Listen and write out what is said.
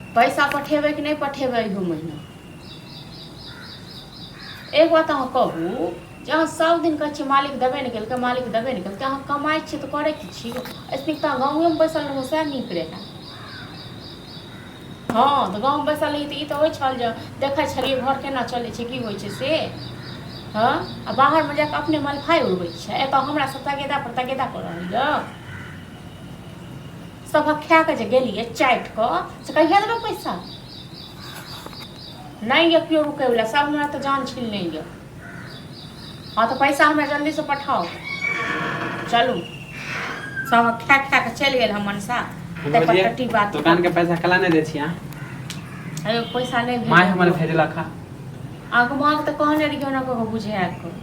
पैसा पठेबै कि नहि पठेबै एगो महीना एक बात अहाँ कहू जे अहाँ सब दिन कहै छियै मालिक देबे नहि केलकै मालिक देबे नहि केलकै अहाँ कमाइ छियै तऽ करै की छियै ऐसे तऽ गाँवेमे बैसल रहू सएह नीक रहै हँ तऽ गाँव बैसल रही तऽ ई तऽ होइत छल जे देखै छलियै घर केना चलैत छै की होइत छै से हँ आ बाहरमे जाकऽ अपने मलफाइ उड़बैत छै एतऽ हमरा सब तगेदा पर तगेदा कऽ रहल यऽ सबक खा के जे गेलिए चाट क से कहिया देबे पैसा नहीं ये क्यों रुके वाला सब हमरा तो जान छीन ले ये हाँ तो पैसा हमरा जल्दी से पठाओ चलू सब खा खा के चल गए हम मनसा ते पर टट्टी बात दुकान के पैसा कला नहीं दे छी हां अरे पैसा नहीं माय हमर भेजला खा आगमाग तो कहने रहियो ना को बुझे आको